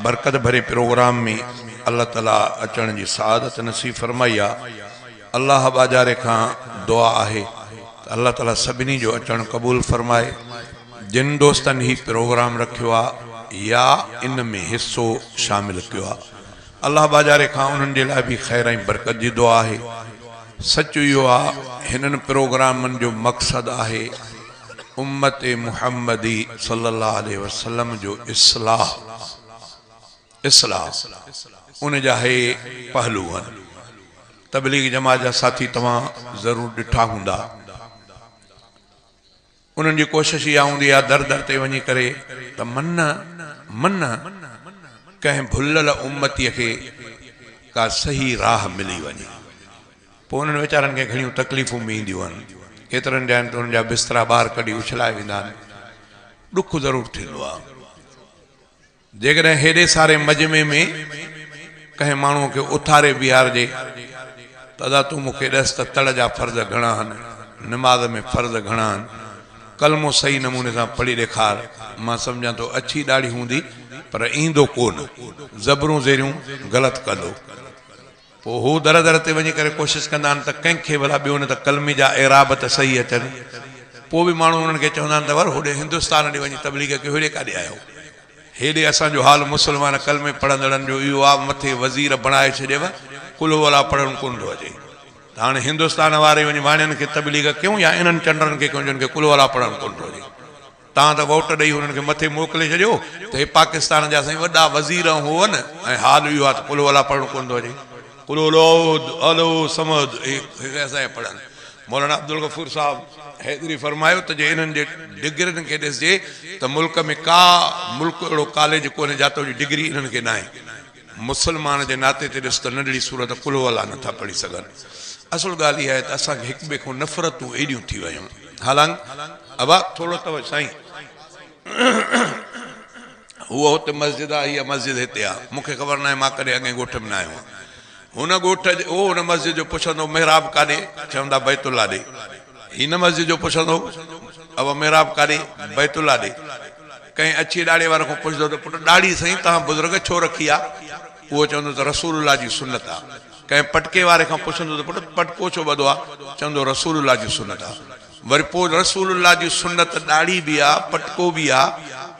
برڪت ڀري پروگرام ۾ الله تعالي اچڻ جي سعادت نصيب فرمائي آ الله ٻاجهاري کان دعا آهي ته الله تعالي سڀني جو اچڻ قبول فرمائي جن دوستن هي پروگرام رکيو آ يا ان ۾ حصو شامل ڪيو آ الله ٻاجهاري کان انهن جي لاء به خير ۽ برڪت جي دعا آهي سچ اهو آ هنن پروگرامن جو مقصد آهي امت محمدي صلي الله عليه وسلم جو اصلاح، Islah، ان جا هي پهلو هن. تبليغ جماعت جا ساٿي توهان ضرور ڏٺا هوندا. انهن جي ڪوشش اها هوندي آهي در در تي وڃي ڪري ته من من ڪنهن ڀليل امتي کي ڪا صحيح راهه ملي وڃي. پوء انهن ويچارن کي گهڻيون تڪليفون به اينديون آهن. ڪيترن جاين تي انهن جا بسترا ٻاهر ڪڍي اڇلائي ويندا آهن. ڏک ضرور ٿيندو آهي. جيڪڏهن هيڏي ساري مجمعي ۾ ڪنهن ماڻهوء کي اٿاري بيهارجي ته ادا تون مون کي ڏس ته تڙ جا فرض گهڻا آهن، نماز ۾ فرض گهڻا آهن، ڪلمو صحيح نموني سان پڙهي ڏيکار، مان سمجهان ٿو اڇي ڏاڙهي هوندي پر ايندو ڪو نه، زبرون زيريون غلط ڪندو. پوء هو در در تي وڃي ڪري ڪوشش ڪندا آهن ته ڪنهن کي ڀلا ٻيو نه ته قلمي جا اعراب ته صحيح اچن. پوء به ماڻهو انهن کي چوندا آهن ته ور هوڏي هندستان ڏي وڃي تبليغ ڪيو هيڏي ڪاڏي آيو. هيڏي اسان جو حال مسلمان قلمي پڙهندڙن جو اهو آ مٿي وزير بڻائي ڇڏيو قل هو الله پڙهڻ ڪونه ٿو اچي ته هاڻي هندستان واري وڃي واڻين کي تبليغ ڪيون يا انهن چنڊرن کي ڪيون جن کي قل هو الله پڙهڻ ڪونه ٿو اچي. توهان ته ووٽ ڏئي هنن کي مٿي موڪلي ڇڏيو ته هي پاڪستان جا سائين وڏا وزير ۽ هو ن ۽ حال اهو آ ته قل هو الله پڙهڻ ڪونه ٿو اچي قل هو الله احد الله الصمد هي اسان جا پڙهن مولانا عبدالغفور صاحب حيدري فرمايو ته جي انهن جي ڊگرين کي ڏسجي ته ملڪ ۾ ڪا ملڪ اهڙو ڪاليج ڪونهي جاتو جي ڊگري انهن کي ناهي. مسلمان جي ناتي تي ڏس ته ننڍڙي سورت قل هو الله نٿا پڙهي سگهن. اصل ڳالهه اها آهي ته اسان کي هڪ ٻئي کان نفرتون ايڏيون ٿي ويون. هالانڪ ابا ٿورو ته سائين هو هتي مسجد آ اها مسجد هتي آ مون کي خبر ناهي مان ڪڏهن اڳين ڳوٺ ۾ نه آيو آهيان. هن ڳوٺ هو هن مسجد جو پڇندو محراب ڪاڏي؟ چوندا بيت الله ڏي. هي نه مسجد جو پڇندو هو اهو محراب ڪاڏي، بيت الله ڏي، ڪنهن اڇي ڏاڙهي واري کان پڇندو هو ته پٽ ڏاڙهي سائين توهان بزرگ ڇو رکي آ؟ اهو چوندو هو ته رسول الله جي سنت آ. ڪنهن پٽڪي واري کان پڇندو هو ته پٽ پٽڪو ڇو ٻڌو آ؟ چوندو هو رسول الله جي سنت آ. وري پوء رسول الله جي سنت ڏاڙهي به آ، پٽڪو به آ،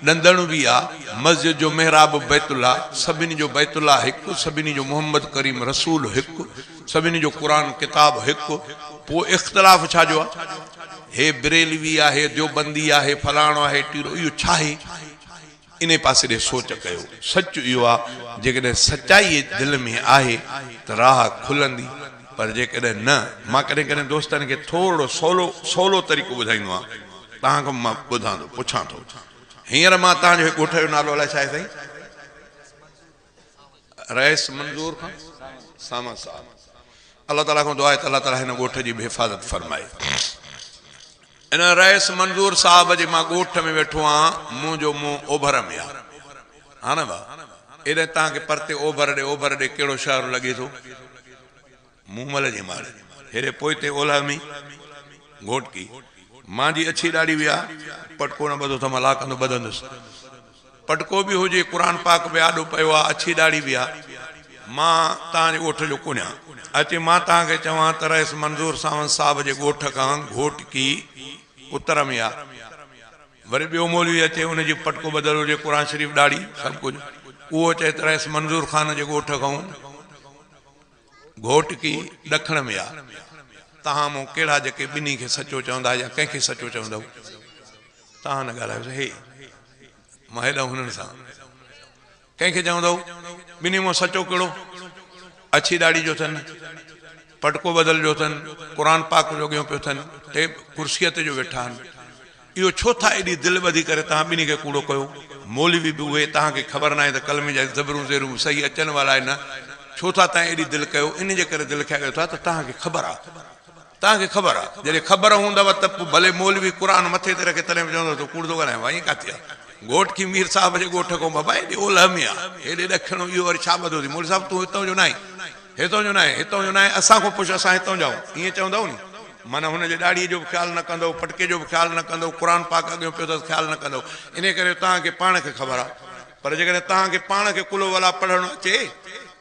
ڏندڻ به آ، مسجد جو محراب بيت الله، سڀني جو بيت الله هڪ، سڀني جو محمد ڪريم رسول هڪ، سڀني جو قرآن ڪتاب هڪ، پوء اختلاف ڇا جو آ؟ هي بريلوي آ، هي ديوبندي آ، هي فلاڻو آ، هي ٽيڙو، اهو ڇا آهي؟ انهي پاسي ڏي سوچ ڪيو. سچ اهو آ، جيڪڏهن سچائي دل ۾ آهي ته راهه کلندي، پر جيڪڏهن نه، مان ڪڏهن ڪڏهن دوستن کي ٿورڙو سولو سولو طريقو ٻڌائيندو آهيان، توهان کان به مان ٻڌان ٿو، پڇان ٿو. هينئر مان توهان جو هي ڳوٺ جو نالو الائي ڇا آهي سائين؟ رئيس منظور خان ساما صاحب الله تعالي کان دعا آهي ته الله تعالي هن ڳوٺ جي به حفاظت فرمائي ان رئيس منظور صاحب جي مان ڳوٺ ۾ ويٺو آهيان منهنجو منهن اوڀر ۾ آهي هاڻ وا ايڏانهن تان کي پرتي اوڀر ڏي اوڀر ڏي ڪهڙو شهر لڳي ٿو مومل جي ماڙ هيري پوئتي اولهه ۾ گهوٽڪي مان جي اڇي ڏاڙهي ويا پٽڪو نه ٻڌو ته مان لاڪندو ٻڌندس پٽڪو به هجي قرآن پاڪ به آڏو پيو آ اڇي ڏاڙهي ويا مان تان جي ڳوٺ جو ڪونهيان اچي مان تان کي چوان ته رئيس منظور ساوند صاحب جي ڳوٺ کان گهوٽڪي اتر ۾ آ وري ٻيو مولوي اچي ان جي پٽڪو ٻڌل هجي قرآن شريف ڏاڙهي سڀ ڪجهه اهو چئي ته رئيس منظور خان جي ڳوٺ کان گهوٽڪي، ڏکڻ ۾ آ. تهان مون ڪهڙا جيڪي ٻنهي کي سچو چوندا يا ڪنهن کي سچو چوندؤ؟ تهان نه ڳالهايوس هي. مان هيڏانهن هنن سان. ڪنهن کي چوندؤ؟ ٻنهي مان سچو ڪهڙو؟ اڇي ڏاڙهي جو اٿن، پٽڪو ٻڌل جو اٿن، قرآن پاڪ جوڳيون پيو اٿن، ٽيب ڪرسيء تي جو ويٺا آهن. اهو ڇو ٿا ايڏي دل ٻڌي ڪري توهان ٻنهي کي ڪوڙو ڪيو؟ مولوي به اهي توهان کي خبر ناهي ته ڪلمي جا زبرون زيرون به صحيح اچن وال آهي نه ڇو ٿا تائين ايڏي دل ڪيو ان جي ڪري دل کيايو ٿا ته توهان کي خبر آ توهان کي خبر آ جڏهن خبر هوندو ته پو ڀلي مولوي قرآن مٿي تي رکي تڏهن به چوندو تو ڪوڙ ٿو ڳالهائين وائين ڪاٿي آ گهوٽ کي مير صاحب جي ڳوٺ کان بابا ايڏي اولهه ۾ آ ايڏي ڏکڻ اهو وري ڇا ٻڌو ٿي مولوي صاحب تون هتان جو ناهين. هتان جو ناهي، هتان جو ناهي، اسان کان پڇ، اسان هتان جا آهيون، ائين چوندؤ ني، معنيٰ هن جي ڏاڙهيء جو به خيال نه ڪندؤ، پٽڪي جو به خيال نه ڪندؤ، قرآن پاڪ اڳيون پيو اٿس خيال نه ڪندؤ، انهيء ڪري جو توهان کي پاڻ کي خبر آهي، پر جيڪڏهن توهان کي پاڻ کي قل هو الله پڙهڻ اچي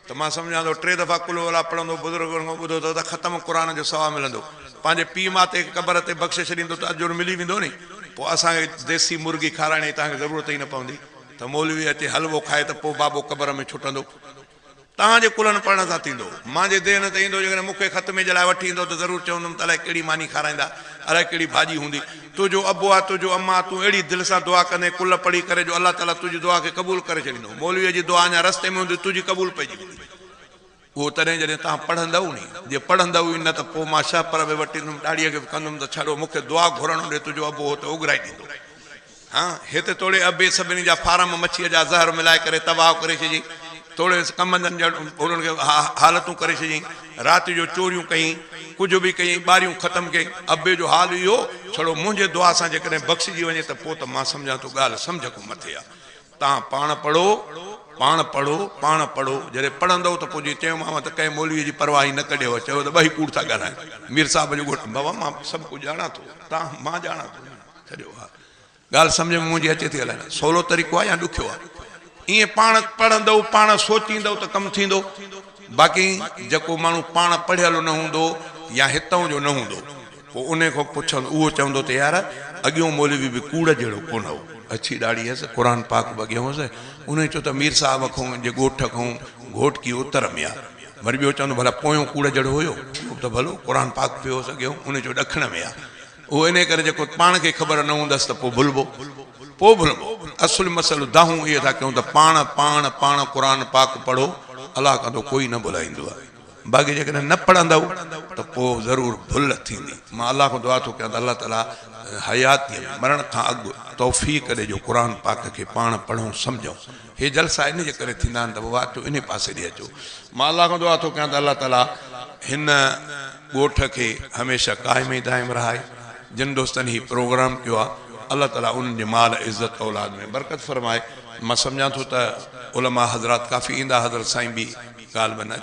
ته مان سمجهان ٿو ٽي دفعا قل هو الله پڙهندؤ، بزرگن کان ٻڌو اٿس ته ختم قرآن جو ثواب ملندو، پنهنجي پيء ماتي کي قبر تي بخشي ڇڏيندو ته اجر ملي ويندو ني، پوء اسان کي ديسي مرغي کارائڻ جي توهان کي ضرورت ئي نه پوندي ته مولوي اچي حلوو کائي ته پوء بابو قبر ۾ ڇٽندو، توهان جي ڪلهن پڙهڻ سان ٿيندو. مان جي ذهن تي ايندو، جيڪڏهن مون کي خط ميجه لاء وٺي ايندو ته ضرور چوندم ته الائي ڪهڙي ماني کارائيندا، الائي ڪهڙي ڀاڄي هوندي. تنهنجو ابو آ، تنهنجو اما آ، تون اهڙي دل سان دعا ڪندين ڪلهه پڙهي ڪري جو الله تعاليٰ تنهنجي دعا کي قبول ڪري ڇڏيندو. مولويء جي دعا اڃا رستي ۾ هوندي تنهنجي قبول پئجي ويندي. اهو تڏهن جڏهن توهان پڙهندؤ ني. جي پڙهندؤ ئي نه ته پوء مان شهپر به وٽيندم، ڏاڙهيء کي به ڪندم ته ڇڙو مون کي دعا گهرڻ ڏي، تنهنجو ابو هو ته اوڳرائي ڏيندو. هان، هت توڙي ابي سڀني جا فارم مڇيء جا زهر ملائي ڪري تباهه ڪري ڇڏيئي. توڙي ڪمندن جا انهن کي حالتون ڪري ڇڏيئي. رات جو چوريون ڪيئي. ڪجهه به ڪيئي ٻاريون ختم ڪيئي. ابي جو حال اهو ڇڙو منهنجي دعا سان جيڪڏهن بخشجي وڃي ته پوء ته مان سمجهان ٿو ڳالهه سمجهه کان مٿي آ. تان پاڻ پڙهو، پاڻ پڙهو، پاڻ پڙهو. جڏهن پڙهندؤ ته پوء جيئن چيومانو ته ڪنهن مولويء جي پرواهه ئي نه ڪڍيو. چيو ته ٻئي ڪوڙ ٿا ڳالهايو. مير صاحب جو ڳوٺ، بابا مان سڀ ڪجهه ڄاڻان ٿو. تان، مان ڄاڻان ٿو. ڇڏيو اها ڳالهه سمجهه ۾ منهنجي اچي ٿي الائي نه سولو طريقو آهي يا ڏکيو آهي ائين پاڻ پڙهندؤ پاڻ سوچيندؤ ته ڪم ٿيندو باقي جيڪو ماڻهو پاڻ پڙهيل نه هوندو يا هتئون جو نه هوندو پوء انهي کان پڇن اهو چوندو ته يار اڳيون مولوي به ڪوڙ جهڙو ڪونه هو اڇي ڏاڙهي هيس قرآن پاڪ به اڳيان هوس انهي چيو ته مير صاحب کان جي ڳوٺ کان گهوٽڪي اتر ۾ آهي وري ٻيو چوندو ڀلا پويون ڪوڙ جهڙو هيو ته ڀلو قرآن پاڪ پيو هوس اڳيان انهي چيو ڏکڻ ۾ آهي اهو انهيء ڪري جيڪو پاڻ کي خبر نه هوندس ته پوء ڀلبو، پوء ڀلبو. اصل مسئلو دانهون اهي ٿا ڪيون ته پاڻ، پاڻ، پاڻ قرآن پاڪ پڙهو، الله ڪندو ڪوئي نه ڀلائيندو آهي. باقي جيڪڏهن نه پڙهندؤ ته پوء ضرور ڀل ٿيندي. مان الله کان دعا ٿو ڪيان ته الله تعاليٰ حياتيء ۾، مرڻ کان اڳ، توفيق ڏي جو قرآن پاڪ کي پاڻ پڙهون، سمجهون. هي جلسا انهيء ڪري ٿيندا آهن ته پوء واقعو انهيء پاسي ڏي اچو. مان الله کان دعا ٿو ڪيان ته الله تعاليٰ هن ڳوٺ کي هميشه قائم ۽ دائم رهائي. جن دوستن هي پروگرام ڪيو آهي، الله تعاليٰ انهن جي مال، عزت، اولاد ۾ برڪت فرمائي. مان سمجهان ٿو ته علماء حضرات ڪافي ايندا، حضرت سائين به غالباً اچي.